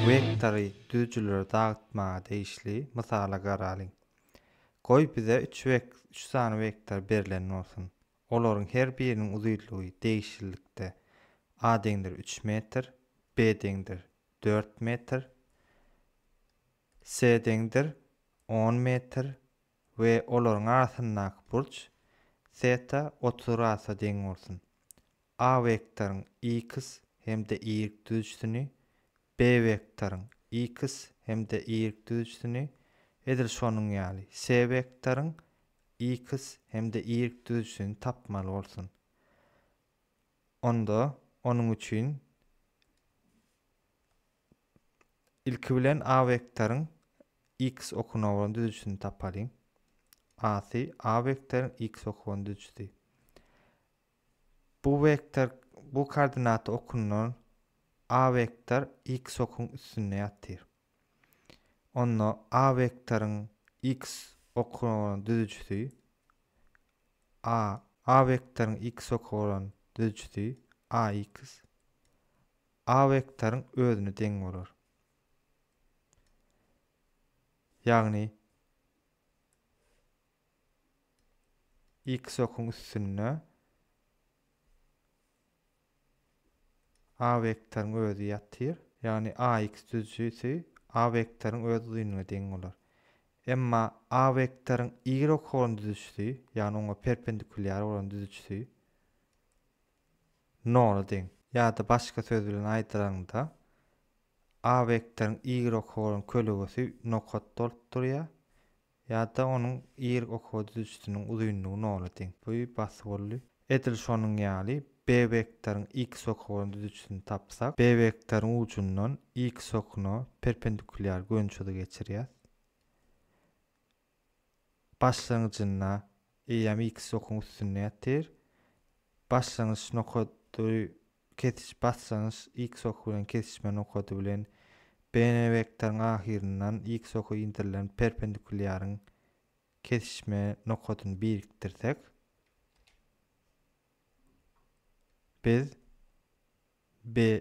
Wektory düzüjileri dagtmaga degişli mysala garalyň. Goý bize üç üç sany wektor berlen bolsun. Olaryň her biriniň uzynlygy degişlilikde A deňdir üç metr, B deňdir dört metr, C deňdir on metr, we olaryň arasyndaky burç teta otuz gradsa deň bolsun. A wektoryň iks hem-de ýigrik düzüjisini, B wektoryň iks hem-de ýigrik düzüjisini, edil şonuň ýaly, C wektoryň iks hem-de ýigrik düzüjisini tapmaly bolsun. Onda, onuň üçin. Ilki bilen A wektoryň X okuna bolan düzüjisini tapalyň. A-sy A wektoryň X oky bolan düzüjisi. Bu wektor bu koordinata okundan A wektor X okuň üstünde ýatyr. Onda A wektoryň X okuna bolan düzüjisi A A wektoryň X oky bolan düzüjisi AX A wektoryň özüne deň bolar. Ýagny X okuň üstünde A wektoryň özi ýatyr. Ýagny AX düzüjisi A wektoryň öz uzynyna deň bolar. Emma A wektoryň Y okuň düzüjisi, ýagny oňa perpendikulýar bolan düzüjisi, nola deň. Ýa-da başga söz bilen aýdylanda, A wektoryň Y oka bolan kölegesi nokat bolup durýar, ýa-da onuň Y oka düzüjisiniň uzynlygy nola deň. Bu basyp boldy. Edil şonuň ýaly, B wektoryň X oka bolan düzüjisini tapsak, B wektoryň ujundan X okuna perpendikulýar gönçüri geçirýäs. başlangyjynda eýýäm ilki sokuň üstünde ýatyr. Başlangyç nokady kesiş başlangyç ilki sok bilen kesişme nokady bilen BN wektoryň ahyryndan ilki soka indirilen perpendikulýaryň kesişme nokadyny birikdirsek, biz BN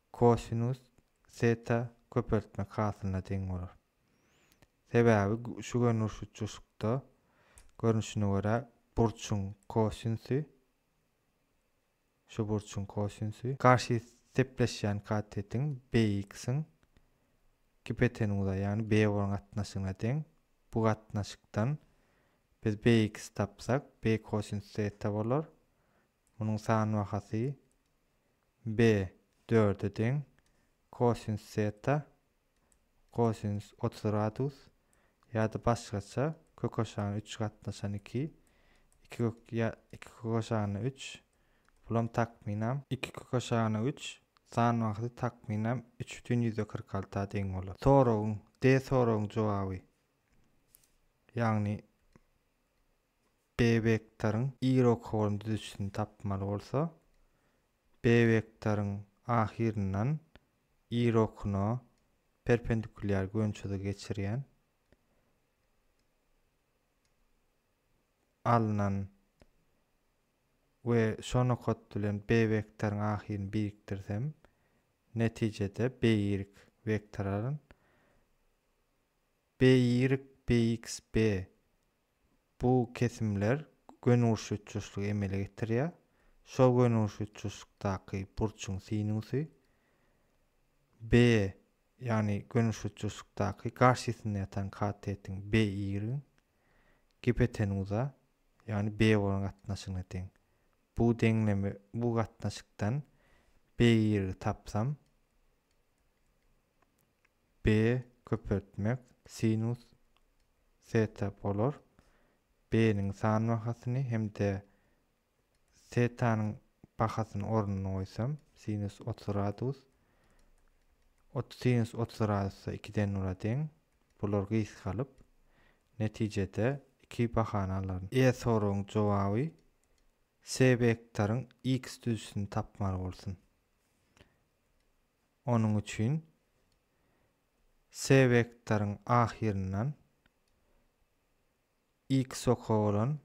Kosinus zeta köpeltmek hasylyna deň bolar. Sebäbi şu görnüş uçuşykda görnüşine görä burçuň kosinsy şu burçuň kosinsy garşy sepleşýän katetiň bx-iň gipotenuza ýagny bwrn gatnaşygyna deň. Bu gatnaşykdan biz bx tapsak b kosinus zeta bolar. Munuň san bahasy B dörde deň. Kosinus teta, kosinus otuz gradus, ýa-da başgaça, kök aşagyna üç gatnaşan iki, iki kök, ýa iki kök aşagyna üç, bulam takmynam, iki kök aşagyna üç, san bahasy takmynam üç bütin ýüzde kyrk alty a deň bolar. Soragyň, D soragyň jogaby, ýagny B wektoryň Y rokoryň düzüjisini tapmaly bolsa, B wektoryň ahyryndan Y rokuna perpendikulýar gönçüzigi geçirýän alnan we şo nokat bilen B wektoryň ahyryny birikdirsem, netijede BY wektory alan. BY, BX, B Bu kesimler gönügurşutjuşlygy emele getirýär. Şol gönügurşutjuşlykdaky burçuň sinusy B, ýagny gönügurşutjuşlykdaky garşysynda ýatan katetiň B y gipotenuza, ýagny B bolan gatnaşygyna deň. Bu deňleme bu gatnaşykdan B y tapsam, B köpeltmek sinus teta bolar. B-niň san bahasyny hem-de tetanyň bahasyny ornuny goýsam, sinus 30 gradus. Ot sinus 30 gradusda 2 den nula deň. Bular gysgalyp, netijede 2 bahany alaryn. E soragyň jogaby S wektoryň x düzüsini tapmaly bolsun. Onuň üçin C wektoryň ahyryndan X oka bolan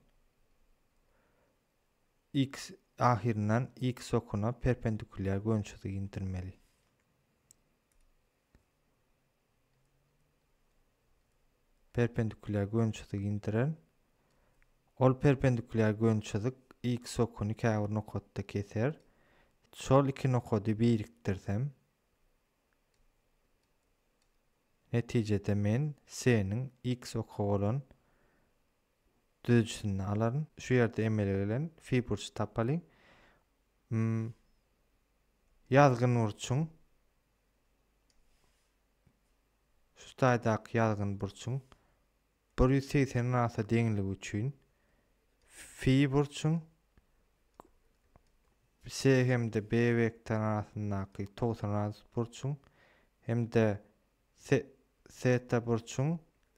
X ahyryndan X okuna perpendikulýar gönçüzigi indirmeli. perpendikuliar gönçüzigi indiren ol perpendikuliar gönçüzik x okuny käbir nokatda keser şol iki nokady birikdirsem netijede men s-niň x oky bolan düzüjisini alaryn şu ýerde emele gelen fi burçy tapalyň ýazgyn burçuň Şu taýdaky ýazgyn burçuň bir ýüz segsen rasa deňligi üçin fi burçuň S hem-de B wektoryň arasyndaky togsan radus burçuň hem-de seta burçuň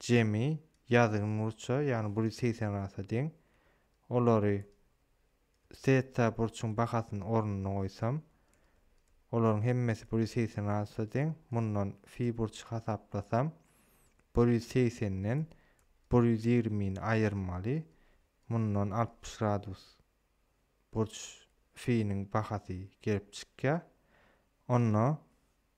jemi ýazgyn burça, ýagny bir ýüz segsen rasa deň. Olary Theta burçuň bahasyny ornuna goýsam, olaryň hemmesi bir ýüz segsen gradusa deň. Mundan fi burçy hasaplasam, bir ýüz segsenden bir ýüz ýigrimini aýyrmaly. Mundan altmyş gradus burç finiň bahasy gelip çykýar. Onda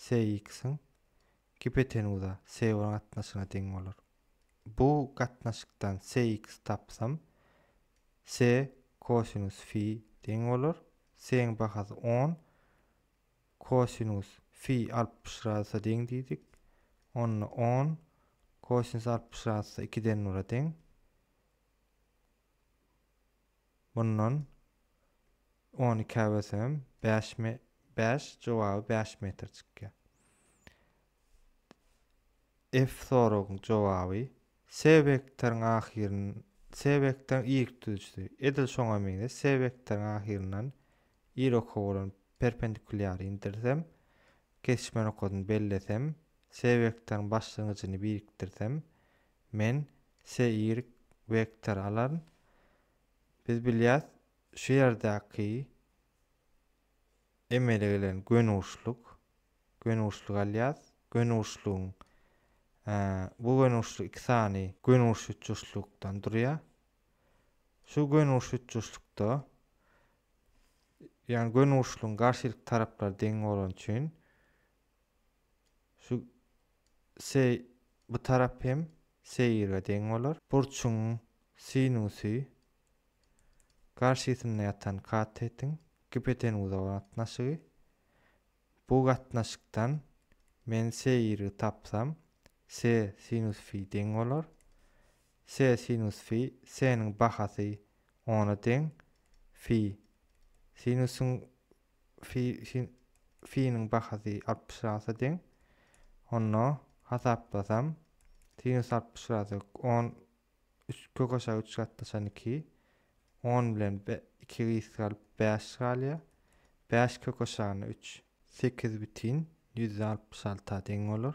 SX-iň gipotenuza, Seýor gatnaşygyna deň bolar. Bu gatnaşykdan SX tapsam, Se kosinus fi deň bolar. Se-iň bahasy on, kosinus fi altmyş gradusa deň diýdik. Onda on kosinus altmyş gradusa ikiden nula deň. Mundan on iki äwesem bäş me bäş jogaby bäş metr çykýar. F soragyň jogaby S wektoryň ahyryn S wektoryň y tutujysy edil şoňa meňzeş S wektoryň ahyryndan y oka bolan perpendikulýary indirsem kesişme nokadyny bellesem S wektoryň başlangyjyny birikdirsem Men se y wektor alaryn. Biz bilýäs, şu ýerdäki emele gelen gönüguşluk, gönüguşluk alýas. Gönüguşlugyň e, bu gönüguşluk iki sany gönüguş üçburçlukdan durýar. Şu gönüguş üçburçlukda ýagny gönüguşlugyň garşylyk taraplary deň bolany üçin Şu se bu tarap hem se ýirge deň bolar. Burçuň sinusy garşysynda ýatan katetiň gipotenuza gatnaşygy. Bu gatnaşykdan men se ýirgi tapsam, se sinus fi deň bolar. Se sinus fi, seniň bahasy ona deň. Fi, sinusyň Fi-niň bahasy altmyş rasa deň. Onda hasaplasam, sinus altmyş rasa on üç kök aşagy üç gatlaşan iki. On bilen iki gysga galyp bäş galýar. Bäş kök aşagyna üç sekiz bütin ýüzde altmyş alta deň bolar.